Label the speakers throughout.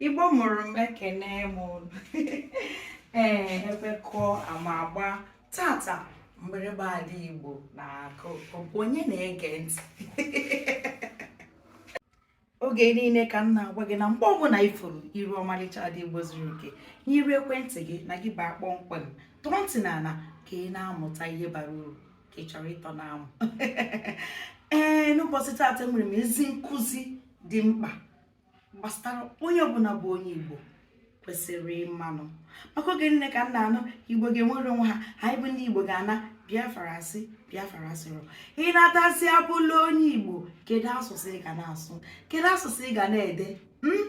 Speaker 1: igbo mụrụ m ekene m unu ee ebe kụọ ama agba tata mgbịrịgba ala igbo na-akụ onye na-ege ntị oge niile ka m na-agwa gị na mgbe ọbụla ị furu iru ọmalịcha ada igbo zuru oke n'iru ekwentị gị na gị baa kpọmkwem tọọ ntị n'ala ka ị na-amụta ihe bara uru ka ị chọrọ ịtọ n'amụ ee n'ụbọchị taata enwere m ezi nkụzi dị mkpa gbasara onye ọbụla bụ onye Igbo kwesịrị ịmanụ maka oge niile ka m na-anụ Igbo ga-enwere onwe ha anyị bụ ndị Igbo ga-ana Biafra a sị Biafra a sịrọ ị natazi abụla onye Igbo kedu asụsụ ị ga na-asụ kedu asụsụ ị ga na-ede hmm?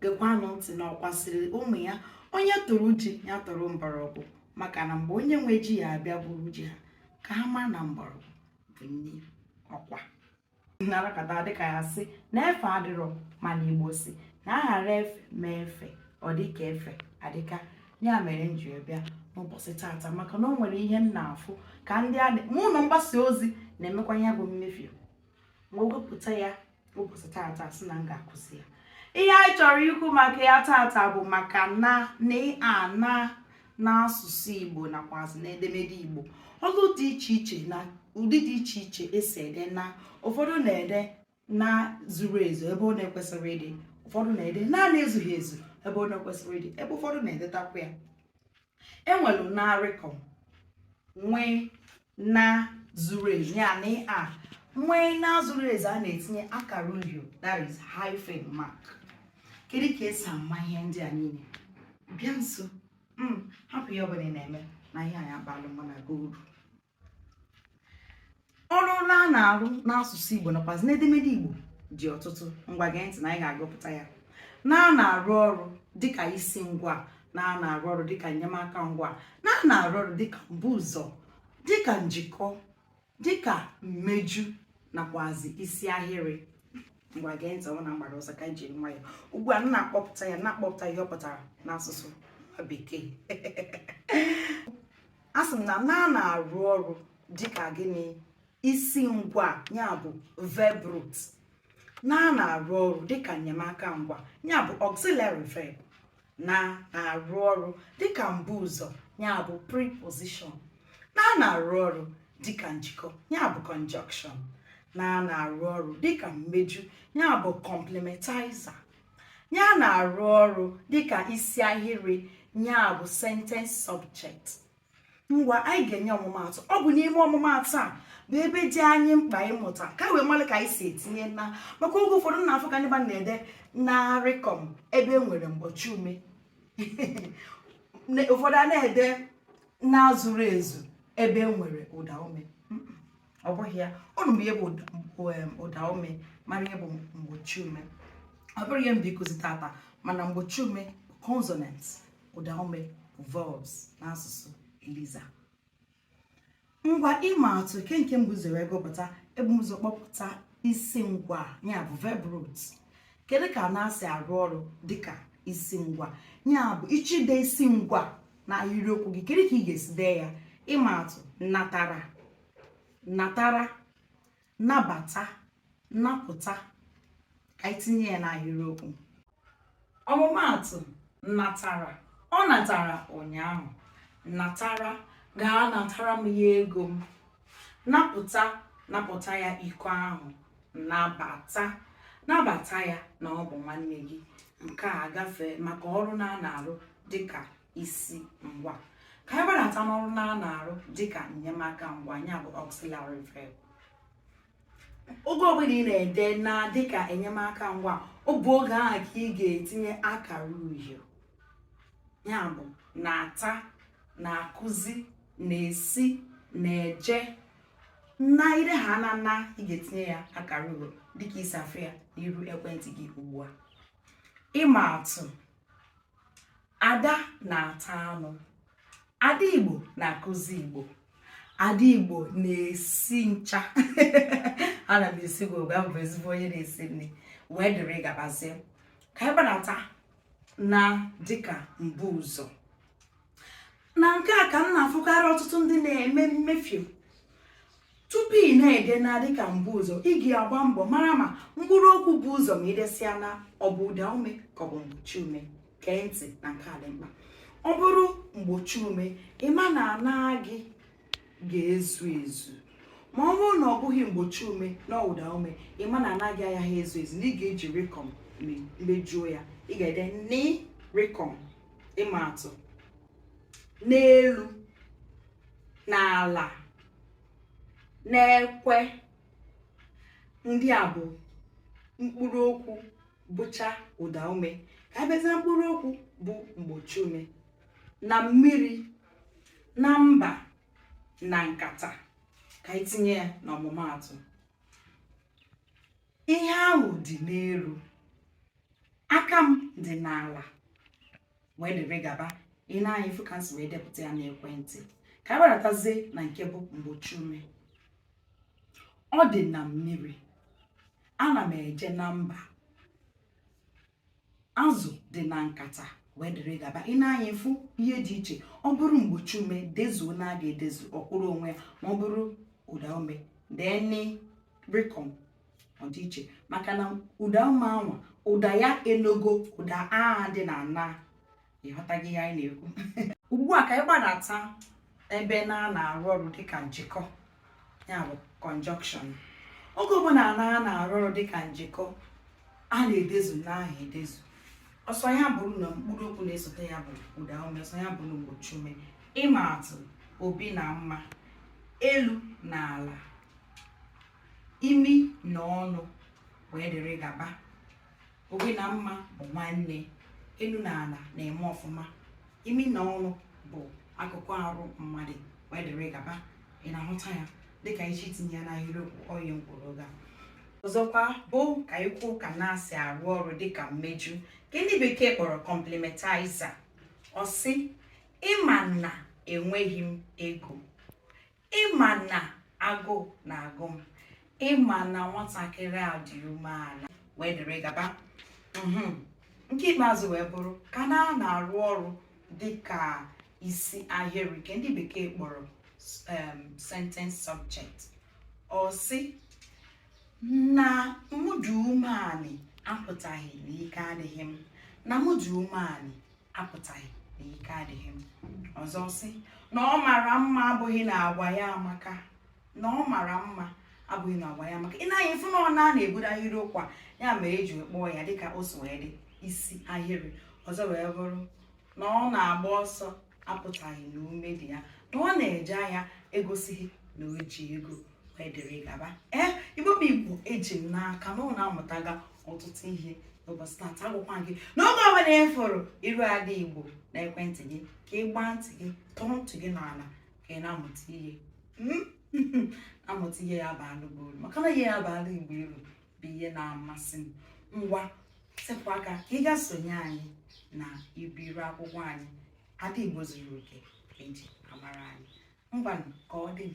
Speaker 1: gekwanụ ntị na ọkwa sịrị ụmụ ya onye tụrụ ji ya tụrụ mgbọrọgwụ maka na mgbe onye nwe ji ya abịa buru ji ha ka ha mara na mgbọrọgwụ bụ nni ọkwa narakata dịka ya sị na efe adịrọ mana igbo sị na a ghara efe mee efe ọ dịka efe adịka ya mere m ji bịa n'ụbọchị tata maka na o nwere ihe m na-afụ ka ndị a mụ na mgbasa ozi na-emekwa ya bụ mmefie m wepụta ya ụbọchị tata sị na m ga-akụzi ya ihe anyị chọrọ ikwu maka ya tata bụ maka na na ana n'asụsụ igbo nakwazi n'edemede igbo ọlụ dị iche iche na ụdị dị iche iche esi ede na ụfọdụ na-ede na zuru ezu ebe ọ na-ekwesịrọ ịdị ụfọdụ na-ede na na-ezughị ezu ebe ọ na-ekwesịrọ ịdị ebe ụfọdụ na-edetakwa ya enwere na rịkọm nwee na zuru ezu ya na e nwee na zuru ezu a na-etinye akara uhio that is hyphen mark kedu ka esi ama ihe ndị a niile bịa nso hmm, hapụ ihe ọbụla ị na-eme na ihe a ya-abalụ mụ na gị uru ọrụ na a na-arụ n'asụsụ Igbo nakwazi n'edemede Igbo dị ọtụtụ ngwa gee ntị na anyị ga-agụpụta ya na a na-arụ ọrụ dịka isi ngwa na a na-arụ ọrụ dịka enyemaka ngwa na a na-arụ ọrụ dịka mbu ụzọ dịka njikọ dịka mmeju nakwazi isi ahịrị ngwa gee ntị ọ bụ na m gbara ọsọ ka m jiri nwayọ ugbu a na-akpọpụta ya na-akpọpụta ihe ọ pụtara n'asụsụ bekee asị m na na na-arụ ọrụ dịka gịnị isi ngwa ya bụ verb root na na-arụ ọrụ dịka enyemaka ngwa ya bụ auxiliary verb na-arụ ọrụ dịka mbu ụzọ ya bụ preposition na na-arụ ọrụ dịka njikọ ya bụ conjunction na na-arụ ọrụ dịka mmeju ya bụ complementizer ya na-arụ ọrụ dịka isi ahịrị ya bụ sentence subject ngwa anyị ga-enye ọmụmaatụ ọ bụ n'ime ọmụmaatụ a bụ ebe dị anyị mkpa ịmụta ka wee mara ka anyị si etinye na maka oge ụfọdụ na-afụ ka ndị mmadụ na-ede na rịkọm ebe e nwere mgbochi ume ụfọdụ a na-ede na zuru ezu ebe e nwere ụda ume ọ bụghị ya unu bụ ihe bụ ụda ume mara ihe bụ mgbochi ume ọ bụrụ ihe mbụ ikuzi tata mana mgbochi ume consonants ụdaume bụ vowels n'asụsụ eliza ngwa ịma atụ ke nke m bu ụzọ wee gụpụta e bu ụzọ kpọpụta isi ngwa ya bụ verb root kedu ka na si arụ ọrụ dịka isi ngwa ya bụ ị chọ ide isi ngwa na ahịrịokwu gị kedu ka ị ga-esi dee ya ịma atụ natara natara nabata napụta ka anyị tinye ya n'ahịrịokwu ọmụmaatụ natara ọ natara ụnyaahụ natara gaa natara m ya ego m napụta napụta ya iko ahụ nabata nabata ya na ọ bụ nwanne gị nke a gafee maka ọrụ na a na-arụ dịka isi ngwa ka anyị gbadata n'ọrụ na a na-arụ dịka enyemaka ngwa ya bụ auxiliary verb oge ọbụla ị na-ede na dịka enyemaka ngwa ọ bụ oge ahụ ka ị ga-etinye akara uhie ya bụ na-ata na-akụzi na-esi na-eje na ire ha na na ị ga-etinye ya akara uhie dịka i si afụ ya n'iru ekwentị gị ugbu a ịma atụ ada na-ata anụ ada igbo na-akụzi igbo ada igbo na-esi ncha ana m asị gị ọ ga-abụ ezigbo onye na-esi nri wee dịrị gabazie ka anyị gbadata na dịka mbuụzọ na nke a ka m na-afụkarị ọtụtụ ndị na-eme mmefie tupu ị na-ede na dịka mbuụzọ ị ga-agba mbọ mara ma mkpụrụ okwu bu ụzọ ma i desịa na ọ bụ ụda ume ka ọ bụ mgbochi ume gee ntị na nke a dị mkpa ọ bụrụ mgbochi ume ị ma na na gị ga-ezu ezu ma ọ bụrụ na ọ bụghị mgbochi ume na ọ bụ ụda ume ị ma na na gị agaghị ezu ezu na ị ga-eji rịkọm mejuo ya ị ga-ede n rịkọm ịma atụ n'elu n'ala n'ekwe ndị a bụ mkpụrụ okwu bụcha ụda ume ka a bịazia mkpụrụ okwu bụ mgbochi ume na mmiri na mba na nkata ka anyị tinye ya n'ọmụmaatụ ihe ahụ dị n'elu aka m dị n'ala wee dịrị gaba ị na-anya ifu ka m si wee depụta ya n'ekwentị ka anyị gbadatazie na nke bụ mgbochi ume ọ dị na mmiri ana m eje na mba azụ dị na nkata wee dịrị gaba ị na-anya ifu ihe dị iche ọ bụrụ mgbochi ume dezuo na a ga-edezu ọ kwụrụ onwe ya ma ọ bụrụ ụda ume de n rịkọm ọ dị iche maka na ụda ume anwa ụda ya enogo ụda a dị na na ị ghọtaghị ihe anyị na-ekwu ugbu a ka anyị gbadata ebe na na-arụ ọrụ dịka njikọ ya bụ conjunction oge ọbụla na na-arụ ọrụ dịka njikọ a na-edezu na ahụ edezu ọ sọ ya bụrụ na mkpụrụ okwu na-esote ya bụ ụda ume ọ sọ ya bụrụ mgbochi ume ịma atụ obi na mma elu na ala imi na ọnụ wee dịrị gaba obi na mma bụ nwanne elu na ala na-eme ọfụma imi na ọnụ bụ akụkụ arụ mmadụ wee dịrị gaba ị na-ahụta ya dịka iji tinye ya n'ahịrịokwu ọ ihe m kwuru oge a ọzọkwa bụ ka anyị kwuo ka na si arụ ọrụ dịka mmeju nke ndị bekee kpọrọ complementizer ọ sị ị ma na enweghị m ego ị ma na agụụ na-agụ m ị ma na nwatakịrị a dị umeala wee dịrị gaba mhm. nke ikpeazụ wee bụrụ ka na na-arụ ọrụ dị ka isi ahịrị nke ndị bekee kpọrọ um, sentence subject ọ sị na mụ dị umeanị apụtaghị na ike adịghị m na mụ dị umeanị apụtaghị na ike adịghị m ọzọ sị na ọ mara mma abụghị na agwa ya amaka na ọ mara mma abụghị na agwa ya amaka ị naghị ịfụ na ọ na na-ebido ahịrịokwu a ya mere e ji kpọọ ya dịka o si wee dị isi ahịrị ọzọ wee bụrụ na ọ na-agba ọsọ apụtaghị na ume dị ya na ọ na-eje ahịa egosighị na o ji ego wee dịrị gaba ee igbo bụ igbo eji m n'aka na unu amụtaga ọtụtụ ihe n'ụbọchị tata agwakwa m gị na oge ọbụla ị fụrụ iru ada igbo na ekwentị gị ka ị gbaa ntị gị tọọ ntị gị n'ala ka ị na-amụta ihe hmm? amụta ihe ya-abalụ gị uru maka na ihe ya-abalụ igbo uru bụ ihe na-amasị m ngwa sepụ aka ka ị gaa sonye anyị na ibe iru akwụkwọ anyị ada igbo zuru oke e ji amara anyị Mbanụ ka ọ dị m.